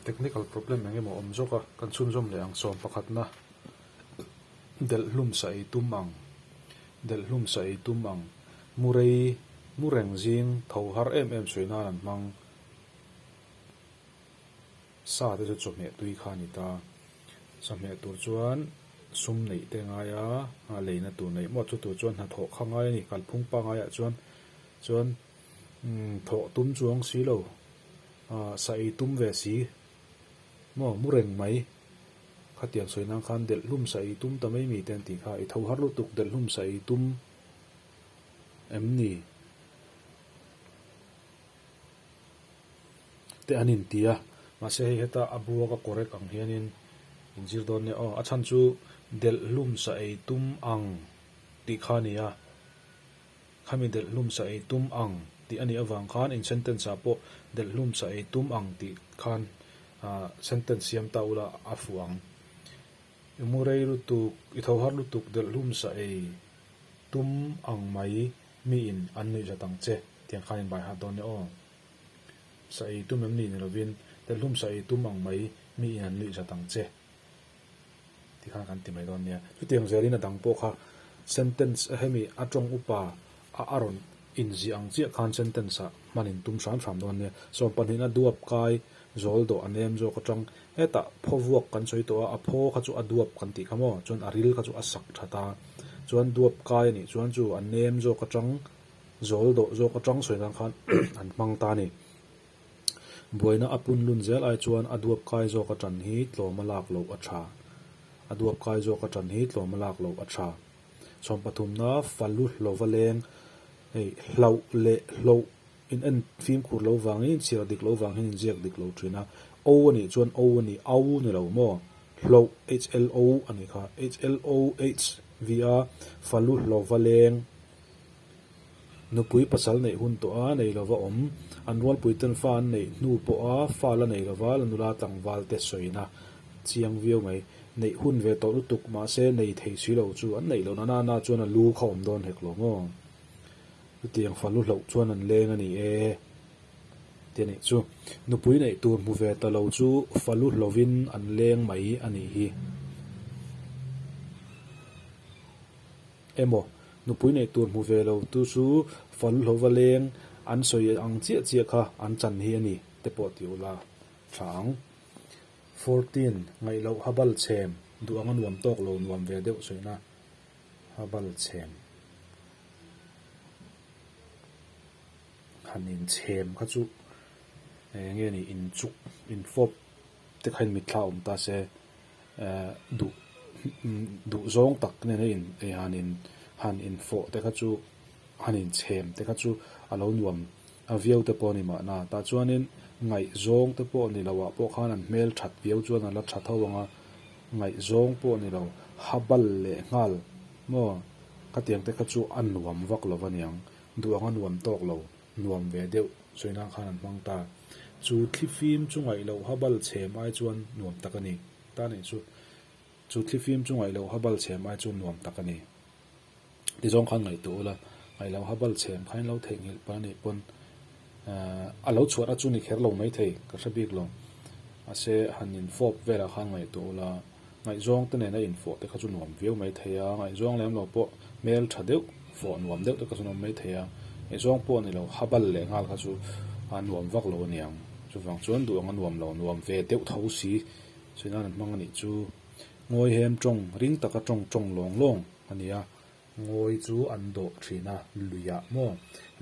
Technical problem eng emaw awm zawk a, kan chhunzawm leh ang sawm pakhatna delh hlum sa ei tum ang, delh hlum sa ei tum ang, mu rei mu reng zing tho har em em sawi nan an hmang, sa te chu chawhmeh tui kha a ni ta, chawhmeh tur chuan sum neih te ngai a, leina tur neih mawt chu tur chuan hna thawh kha ngai a ni, kalphung pa ngai ah chuan chuan. Thawh tum chuang si lo, sa ei tum ve si maw, mu reng mai, khatiang sawi nan khan delh hlum sa ei tum ta mai mi te an tih kha, i tho har lutuk delh hlum sa ei tum em ni? te an in ti a, mahse hei heta a buak a correct ang hian in in zir dawn nia, aw a chhan chu delh hlum sa ei tum ang tih kha a ni a. Khami delhlum sa ei tum ang tih a nih avang khan in sentence ah pawh delhlum sa ei tum ang tih khan sentence siam ta ula a fuh ang. I mu rei lutuk, i tho har lutuk delhlum sa ei tum ang mai mi in an nuih zat ang che tiang khan in bai hah dawn e aw. Sa ei tum em ni ni lovin delhlum sa ei tum ang mai mi in an nuih zat ang che. Tih khan kan ti mai dawn nia. Chutiang zelin a dang pawh kha sentence hemi a tawng upa a a rawn inziah ang chiah khan sentence ah hman in tum hram hram dawn nia. Sawm pahnih a duap kai zawl dawh a nem zawk atang. Hetah phaw vuak kan sawi tawh a, a phaw kha chu a duap kan tih kha maw, chuan a ril kha chu a sak that a. Chuan duap kai a nih chuan chu a nem zawk atang, zawl dawh zawk atang sawi nan khan an hmang ta a ni. Buaina a pun lun zel ai chuan a duap kai zawk aṭan hi tlawm a lak loh a ṭha. A duap kai zawk aṭan hi tlawm a lak loh a ṭha. Chhawm pathumna falu hlova leng hei hlauh leh hlawh in en fimkhur lo vangin chhiar dik lo vangin inziak dik lo ṭhin a. O a nih chuan o a ni, au ni lo maw? Hlauh, HLO, a ni kha. HLOH via falu hlova leng Nupui pasal neih hun tawh a nei lo va awm. An rualpui ten fa an neih hnu pawh a fa la nei lo va, la nula tlangval te sawina chiang viau mai. Neih hun ve tawh lutuk mahse nei thei si lo chu an neih lo na nana chuan a lu kha awm dawn hek lo maw? Chutiang fa lu hloh chuan an leng a ni e ti a nih chu. Nupui neih tur hmu ve ta lo chu fa lu hlovin an leng mai a nih hi. emaw nupui neih tur hmu ve lo tu chu Faluhlova leng an sawi ang chiah chiah kha an chan hi a ni te pawh ti ula tha ang. Fourteen, ngaih loh ha bal chhem duh anga nuam tawk lo nuam ve deuh sawiina ha bal chhem han inchhem kha chu eng nge ni inchuk infawp. Tikhain mitthla awm ta se duh duh zawng tak nena in ei han in han in fawh te kha chu han in chhem te kha chu a lo nuam a viau te pawh a ni mahna tah chuanin ngaih zawng te pawh ni loh ah pawh khan an hmel that viau chuan a la tha tho ang a ngaih zawng pawh ni lo ha bal leh nghal maw ka tiang te kha chu a nuam vak lo aniang duh ang a nuam tawk lo. nuam ve deuh sawinan khan an hmang ta. Chu thli fim chu ngaih loh habal chhem ai chuan nuam tak a ni. Tan eih chu. Chu thli fim chu ngaih loh habal chhem ai chuan nuam tak a ni. Tizawng khan ngaih tawh ula, ngaih loh habal chhem khan in lo theihnghilh pal anih pawn a lo chhuat a chu ni kher lo mai thei ka hre bik lo. Ase han infawp velah khan ngaih tawh ula. ngaihzawngte nena infawh te kha chu nuam viau mai thei a, ngaihzawng lem lo pawh hmel tha deuh fawh nuam deuh te kha chu nuam mai thei a, ngaihzawng pawh a ni lo ha bal leh nghal kha chu a nuam vak lo a niang, chuvang chuan duh anga nuam lo nuam ve deuh tho si sawi nan an hmang a nih chu. Ngawihem tawng ring taka tawng tawng lawng lawng a ni a, ngawi chu an dawh thin a luiah maw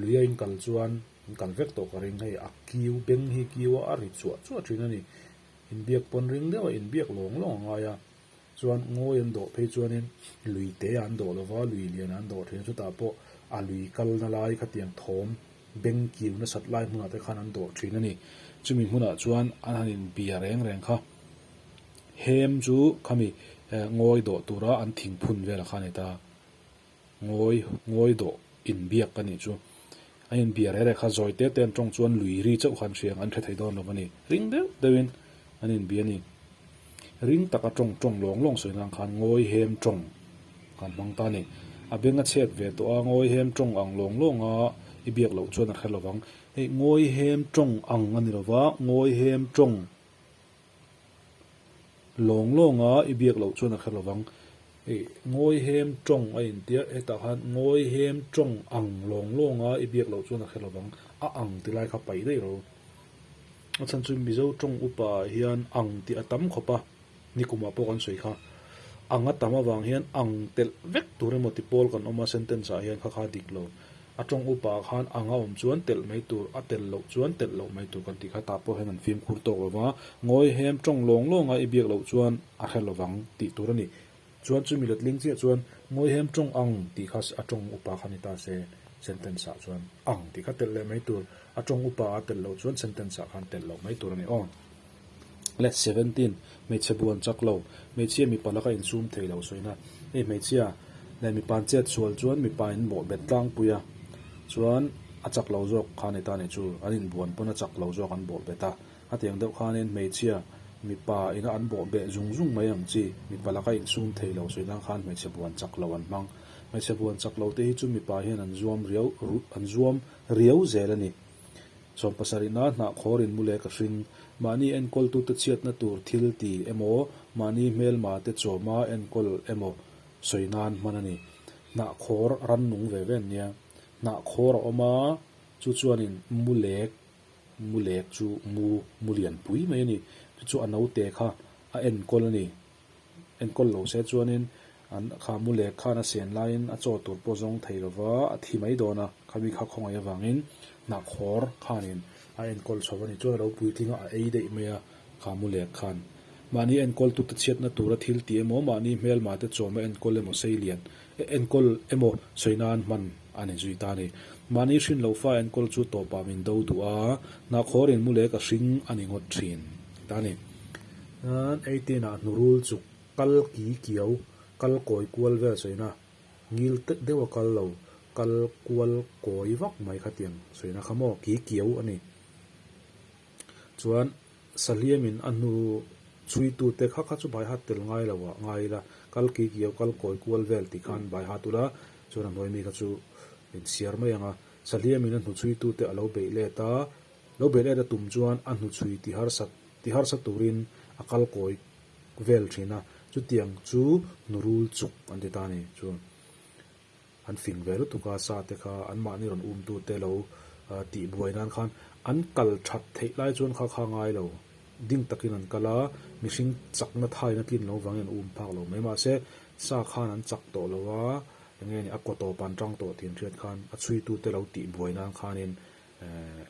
luia in kal chuan in kal vek tawh ka ring hei a kiu beng hi kiua a ri chuah chuah thin a ni, Inbiak pawn ring deuh a inbiak lawng lawng a ngai a, chuan ngawi an dawh phei chuanin lui te an dawh lova, lui liana an dawh thin chutah pawh a lui kalna lai khatiang thawm beng kiu nasat lai hmunah te khan an dawh thin a ni. Chumi hmunah chuan an han inbia reng reng kha. Hem chu khami ngawi dawh tura an thing phun vel a kha a ni ta. Ngawi, ngawi dawh in biak ka nih chu. An in bia reh reh kha zawi te ten tawng chuan lui ri chauh khan hriang an hre thei dawn lo ka ni. Ring deuh deuh in an in bia ni. Ring taka tawng tawng lawng lawng sawi nan khan ngawi hem tawng kan hmang ta ni. A beng a chhek ve tawh a, ngawi hem tawng ang lawng lawng a i biak loh chuan a hre lo vang. Hei, ngawi hem tawng ang a ni lo va, ngawi hem tawng. Lawng lawng a i biak loh chuan a kher lovang. Ih, Ngawihem Tawng a intiah. Hetah khan Ngawihem Tawng ang lawng lawng a i biak loh chuan a kher lovang. A ang ti lai kha paih daih lo. A chhan chu Mizo Tawng upa ah hian ang tih a tam khawp a, nikum ah pawh kan sawi kha. Ang a tam avang hian ang telh vek tur emaw tipawl kan awm a, sentence ah hian kha kha dik lo. A tawng upa khan ang a awm chuan telh mai tur, a telh loh chuan telh loh mai tur kan tih kha tah pawh hian an fimkhur tawk lo va, Ngawi hem tawng lawng lawng a i biak loh chuan a hre lovang tih tur a ni. Chuan chumi la tling chiah chuan Ngawi hem tawng ang tih kha a tawng upa khan i ta se, sentence ah chuan ang tih kha telh leh mai tur, a tawng upa a telh loh chuan sentence ah khan telh loh mai tur a ni aw. Let seventeen, Hmeichhe buan chak lo, hmeichhia mipa laka insum thei lo sawi na. Hei hmeichhia leh mipa'n chet sual chuan mipa in bawh bet tlangpui a, chuan a chak lo zawk khan heta nei chu an in buan pawn a chak lo zawk an bawh bet a. A tiang deuh khanin hmeichhia mipa ina an bawh beh zung zung mai ang chi mipa laka insum thei lo sawi nan khan hmeichhe buan chak lo an hmang. Hmeichhe buan chak lo te hi chu mipa hian an zuam riau an zuam riau zel a ni. Chhawng pasarihna hnah khawrin mu leh ka hring. Mahni enkawltute chhiatna tur thil ti emaw, mahni hmelmate chawma enkawl emaw sawi nan hman a ni. Hnah khawr a ran nung ve ve an nia. Hnah khawr a awm a, chu chuanin mu lek, mu lek chu mu, mu lianpui mai a ni. Chu chu a naute kha a enkawl a ni. Enkawl lo se chuanin an kha mu leh khan a sian laiin a chaw tur pawh zawng thei lova a thi mai dawn a, khami kha khawngaih avangin hnah khawr khanin a enkawl chho a ni chuan a lo puitling a, a ei daih mai a kha mu leh khan. Mahni enkawl tute chhiatna tura thil ti emaw mahni hmelmate chawma enkawl emaw seilian Enkawl emaw sawi nan hman a ni zui ta ni. Mahni hrin lo fa enkawl chu tawpah min do duh a, hnahkhawr in mu lek a hring a ni ngawt thin ta ni. Chuan eighteen ah hnu rul chuk kal ki kiau, kal kawi kual vel sawina ngil tep deuh a kal lo, kal kual kawi vak mai kha tiang sawina kha maw, ki kiau a ni. Chuan Saliamin a hnu chhuitute kha kha chu Baihat tel ngai lo ah ngai ila, kal kikio kal kawi kual vel tih khan Baihat ula, chuan a hnuai mi kha chu min siar mai ang a. Saliamin a hnu chhuitute a lo beih let a, lo beih let a tum chuan a hnu chhui ti harsat ti harsat turin a kal kawi vel thin a, chutiang chu hnu rul chuk an ti ta a ni. Chuan. An fing ve lutuk a, sa te kha anmahni rawn umtu te lo tih buai nan khan an kal that theih lai chuan kha kha ngai lo ding takin an kal a, mihring chakna thaina tlin lo vangin an um phak lo mai. Mahse, sa khan an chak tawh lo a, enge ni a kaw tawp an tang tawh tiin hriat khan a chhuitute lo tih buai nan khanin eh.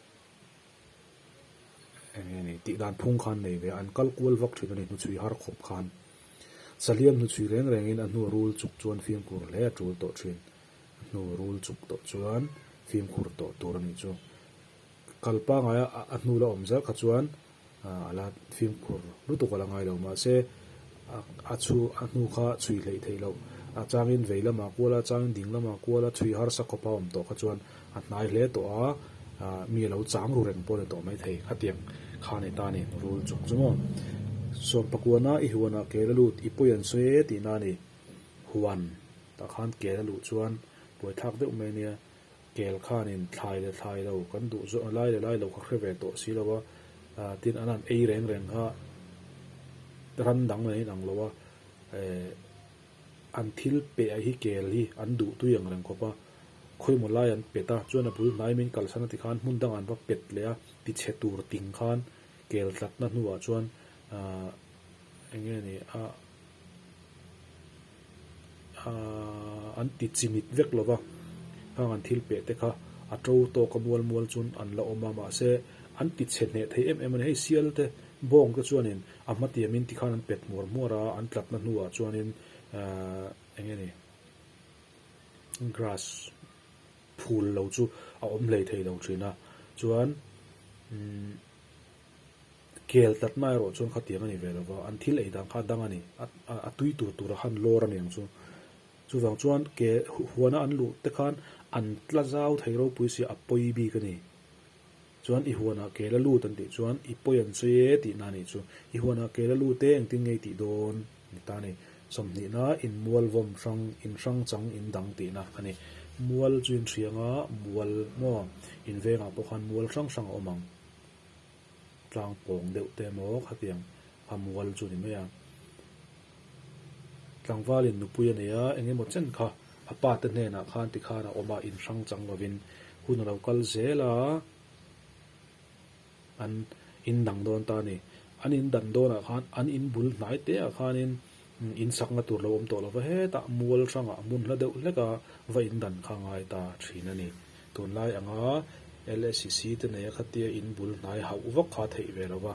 Enge ni? Tih dan phung khan nei ve a, an kal kual vak thin a ni hnuchhui har khawp khan. Saliam hnuchhui reng rengin a hnu a rul chuk chuan fimkhur hle a tul tawh thin. A hnu a rul chuk tawh chuan fimkhur tawh tur a nih chu. Kal pangai a a hnu la awm zel kha chuan a la fimkhur lutuk a la ngai lo mahse, A chhu a hnu kha chhui hleih theih loh. A changin vei lamah kual a, changin ding lamah kual a, chhui harsa khawpa awm tawh kha chuan a hnai hle tawh a, ah mi a lo chang ru reng pawh a ni tawh mai thei, khatiang kha a ni ta a ni, rul chung chu maw. Sawmpakuan a, i huanah kel a lut, i pawi an sawi e tihna a ni. Huan ah khan kel a luh chuan buaithlak deuh mai a nia. Kel khanin thlai le thlai lo kan duh zawh a, lai le lai lo ka hre ve tawh si lo a, tin an han ei reng reng a, ran dang nehin ang lo a, eh, an thil peh ah hi kel hi an duh tui ang reng khawp a, khawi maw lai an pet a, chuan a bul hnai min kalsan a ti khan hmun dangah an va pet leh a, ti chhe tur ting khan kel tlatna hnu ah chuan, ah, eng nge ni, ah. Aaa an ti chimit vek lova hang an thil peh te kha a to tawk a mual mual chuan an la awm a mahse an ti chhe hneh thei em em a ni hei sial te bawng te chuanin a hmatiam in ti khan an pet hmuar hmuar a an tlatna hnu ah chuanin aaa eng nge ni grass phul lo chu a awm hlei thei lo thin a chuan umm. Kel tlatna erawh chuan khatiang a ni ve lo va, an thil ei dang kha a dang a ni. A a tui tur tura han lawr a niang chu. Chuvang chuan ke huana an luh te khan an tla zau thei ropui sia a pawi bik a ni. Chuan i huanah kel a lut an tih chuan i pawi an sawi e tih na a nih chu. I huanah kel a lut e engtin nge i tih dawn? a ni ta a ni. Sawmhnihna in mual vawm hrang, in hrang chang in dang tih na a ni. Mual chu in hriang a, mual maw? In vengah pawh khan mual hrang hrang a awm ang. tlang pawng deuh te emaw khatiang a mual chu ni mai a, tlangvalin nupui a neia eng emaw chen kha a pa te hnenah khan ti khan a awm a in hrang chang lovin hun a lo kal zel a, an in dang dawn ta a ni, an in dan dawnah khan an in bul hnai te ah khanin In sakna tur lo awm tawh lova hetah mual hrangah mun hla deuh hlek a va in dan kha ngai ta thin a ni. Tunlai anga LSC te neia khatia in bul hnai hauh vak kha theih ve lova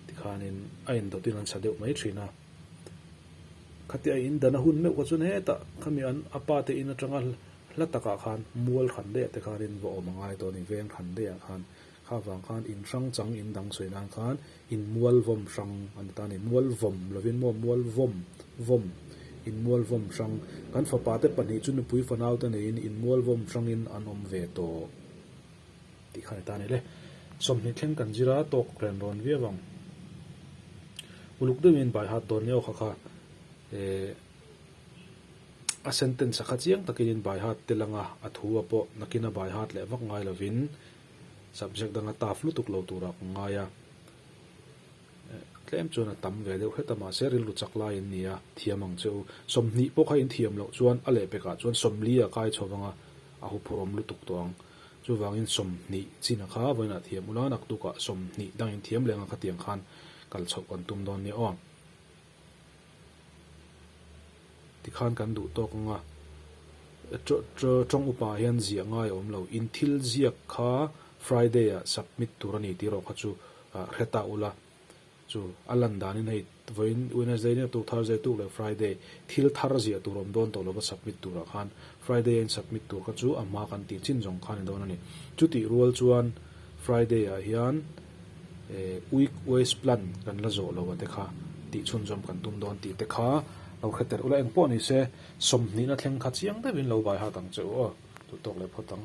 ti khanin a indawtin an sa deuh mai thin a. Khatia a in dan a hun meuh kha chuan hetah khami an a pa te in atanga hla takah khan mual hran deiah te khanin va awm a ngai tawh a ni, veng hran deiah khan. Kha vang khan in hrang chang in dang sawi nan khan in mual vawm hrang a ni ta a ni. Mual vawm lovin maw mual vawm, vawm, in mual vawm hrang. Kan fapa te pahnih chu nupui fanau te neiin in mual vawm hrangin an awm ve tawh tih kha a ni ta a ni le. Sawmhnih thleng kan zir a, tawk ren rawn viau ang. Uluk deuhin in baihat dawn ni awkha kha eh a sentence a kha chiang takin in baihat telanga a thu a pawh nakin a baihat leh vak ngai lovin Subject danga taf lutuk lo tura ka ngai a, tlem chuan a tam ve deuh hlet a, mahse rilru chak lai in nia, thiam ang che u. Sawmhnih pawh kha in thiam loh chuan a lehpek ah chuan sawmli a kai chho vang a, a hu phur awm lutuk tawh ang. Chuvangin sawmhnih chin a kha vawiin a thiam ula, naktuk ah sawmhnih dang in thiam leng ang khatiang khan kal chhoh kan tum dawn nia aw. Tikhan kan duh tawk ang a, tawng upah hian ziah ngai a awm lo. In thil ziak kha Friday-ah submit tur a ni tih erawh kha chu hre ta ula, chu a lan danin hei vawiin Wednesday nen a tuk, Thursday a tuk leh Friday thil thar ziah tur awm dawn tawh lova submit turah khan Friday-a insubmit tur kha chu a hma kan tih chin zawng kha ni dawn a ni. Chutih rual chuan Friday-ah hian. eh, week wise plan kan la zawh lo a te kha tih chhunzawm kan tum dawn tih te kha lo hre tel ula engpawh ni se sawmhnihna thleng kha chiang deuhin lo baihat ang che u aw, tut tawk leh phawt ang.